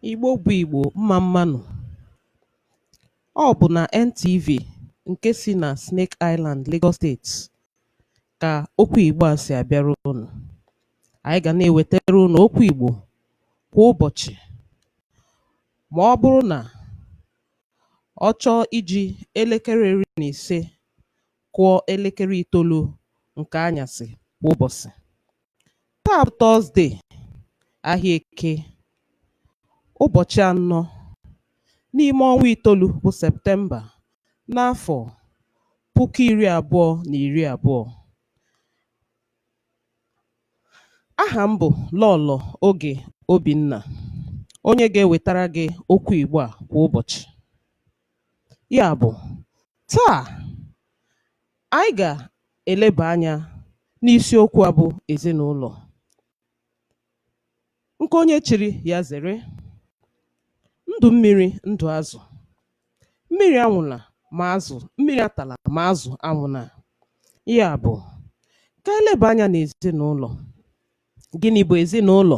Igbo bụ Igbo, mma mmanụ. Ọ bụ na NTV nke si na Snake Island, Lagos Steeti ka okwu Igbo a si abịara unu. Anyị ga na-ewetara unu okwu Igbo kwa ụbọchị ma ọ bụrụ na ọ chọọ iji elekere iri na ise kụọ elekere itoolu nke anyasị kwa ụbọchị. Taa bụ Tọzde, ahịa Eke, ụbọchị anọ n'ime ọnwa itoolu bụ Septemba n'afọ puku iri abụọ na iri abụọ. Aha m bụ Lọlọ Oge Obinna, onye ga-ewetara gị okwu Igbo a kwa ụbọchị. Ya bụ, taa Anyị ga-eleba anya n'isiokwu a bụ ezinụlọ nke onye chiri ya zere ndụ mmiri ndụ azụ mmiri anwụla ma azụ mmiri atala ma azụ anwụla ya bụ ka e leba anya n'ezinụlọ gịnị bụ ezinụlọ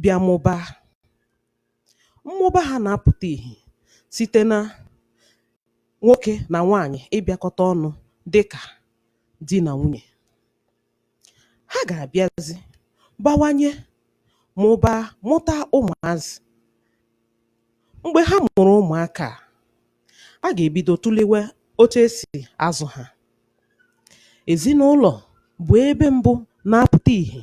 bịa mụbaa. Mmụba ha na-apụta ihe site na nwoke na nwaanyị ịbịakọta ọnụ dị ka di na nwunye. Ha ga-abịazi bawanye, mụba, mụta ụmụazị. Mgbe ha mụrụ ụmụaka a, a ga-ebido tụlewe otu e si azụ ha. Ezinụlọ bụ ebe mbụ na-apụta ihe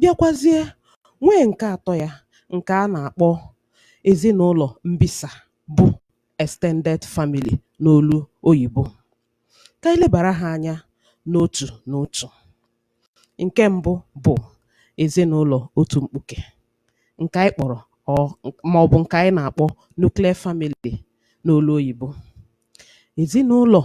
bịakwazie nwee ǹke atọ ya ǹkè a nà-àkpọ èzinụlọ̀ mbisa bụ extended family n'olu oyìbo kà ànyị lebàra ha anya n'otù n'otù ǹke mbụ bụ̀ èzinụlọ̀ otù mkpukè ǹkè ànyị kpọ̀rọ̀ màọbụ̀ ǹkè ànyị nà-àkpọ nuclear family n'olu oyìbo èzinụlọ̀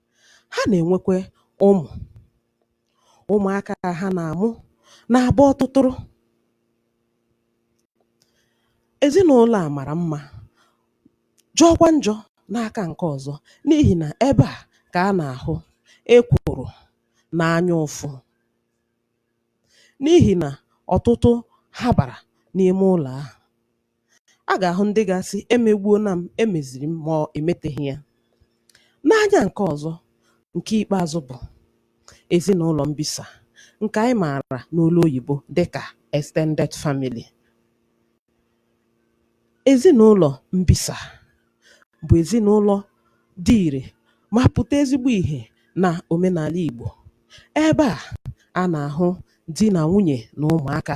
Ha na-enwekwa ụmụ. Ụmụaka ha na-amụ na-abụ ọtụtụrụ. Ezinụlọ a mara mma, jọọkwa njọ n'aka nke ọzọ n'ihi na ebe a ka a na-ahụ ekworo na anya ụfụ n'ihi na ọtụtụ ha bara n'ime ụlọ ahụ. A ga-ahụ ndị ga-asị, emegbuona m, emeziri m ma ọ emeteghị ya. N'anya nke ọzọ, nke ikpeazụ bụ ezinụlọ mbisa nke anyị maara n'olu oyibo dịka extended family. Ezinụlọ mbisa bụ ezinụlọ dị ire ma pụta ezigbo ihe na omenala Igbo. Ebe a, a na-ahụ di na nwunye na ụmụaka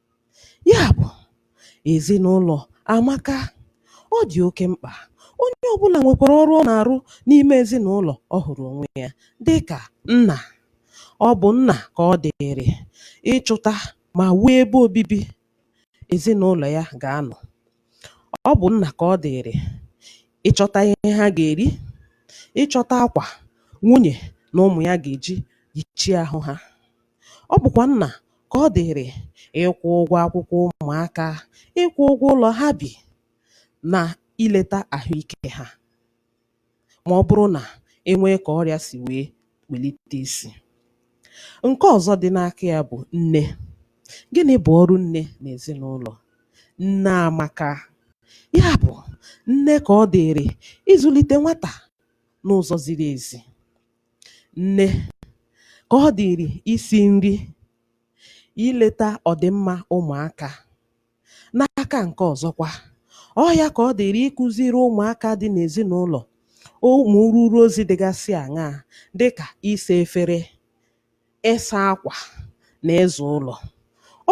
Ya bụ, ezinụlọ amaka, ọ dị oke mkpa. Onye ọbụla nwekwara ọrụ ọ na-arụ n'ime ezinụlọ ọ hụrụ onwe ya dị ka nna. Ọ bụ nna ka ọ dịịrị ịchụta ma wuo ebe obibi ezinụlọ ya ga-anọ. Ọ bụ nna ka ọ dịịrị ịchọta ihe ha ga-eri, ịchọta akwa nwunye na ụmụ ya ga-eji yichie ahụ ha. Ọ bụkwa nna ka ọ dịịrị ịkwụ ụgwọ akwụkwọ ụmụaka, ịkwụ ụgwọ ụlọ ha bi na ileta ahụ ike ha ma ọ bụrụ na e nwee ka ọrịa si wee welite isi. Nke ọzọ dị n'aka ya bụ nne. Gịnị bụ ọrụ nne n'ezinụlọ? Nne amaka. Ya bụ, nne ka ọ dịịrị ịzụlite nwata n'ụzọ ziri ezi. Nne ka ọ dịịrị isi nri, ileta ọdịmma ụmụaka. N'aka nke ọzọkwa, ọ ya ka ọ dịịrị ịkụziri ụmụaka dị n'ezinụlọ ụmụ ruru ozi dịgasị aṅaa dị ka ịsa efere, ịsa akwa na ịza ụlọ.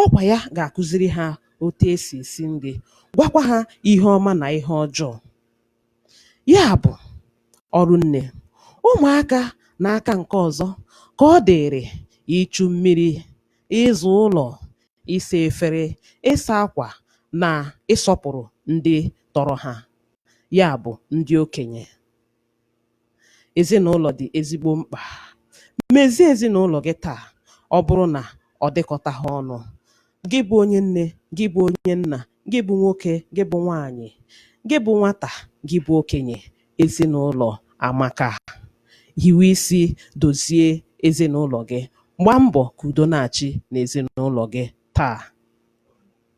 Ọ kwa ya ga-akụziri ha otu e si esi nri, gwakwa ha ihe ọma na ihe ọjọọ. Ya bụ, ọrụ nne. Ụmụaka n'aka nke ọzọ ka ọ dịịrị ichu mmiri, ịza ụlọ, ịsa efere, ịsa akwa na ịsọpụrụ ndị tọrọ ha, ya bụ, ndị okenye. Ezinụlọ dị ezigbo mkpa. Mezie ezinụlọ gị taa ọ bụrụ na ọ dịkọtaghị ọnụ. Gị bụ onye nne, gị bụ onye nna, gị bụ nwoke, gị bụ nwaanyị, gị bụ nwata, gị bụ okenye, ezinụlọ amaka. Hiwe isi dozie ezinụlọ gị. Gbaa mbọ ka udo na-achị n'ezinụlọ gị taa.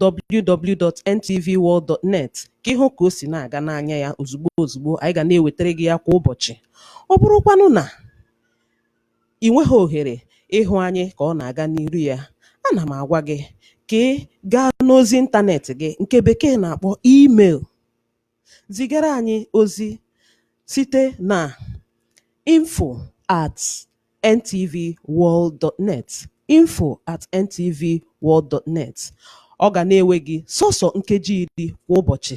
www.ntvworld.net ka ị hụ ka o si na-aga n'anya ya ozugbo ozugbo anyị ga na-ewetara gị ya kwa ụbọchị ọ bụrụkwanụ na ị nweghị ohere ịhụ anyị ka ọ na-aga n'iru ya ana m agwa gị ka ị gaa n'ozi ịntanetị gị nke bekee na-akpọ email zigara anyị ozi site na info at ntvworld.net info at ntvworld.net ọ ga na-ewe gị sọsọ nkeji iri kwa ụbọchị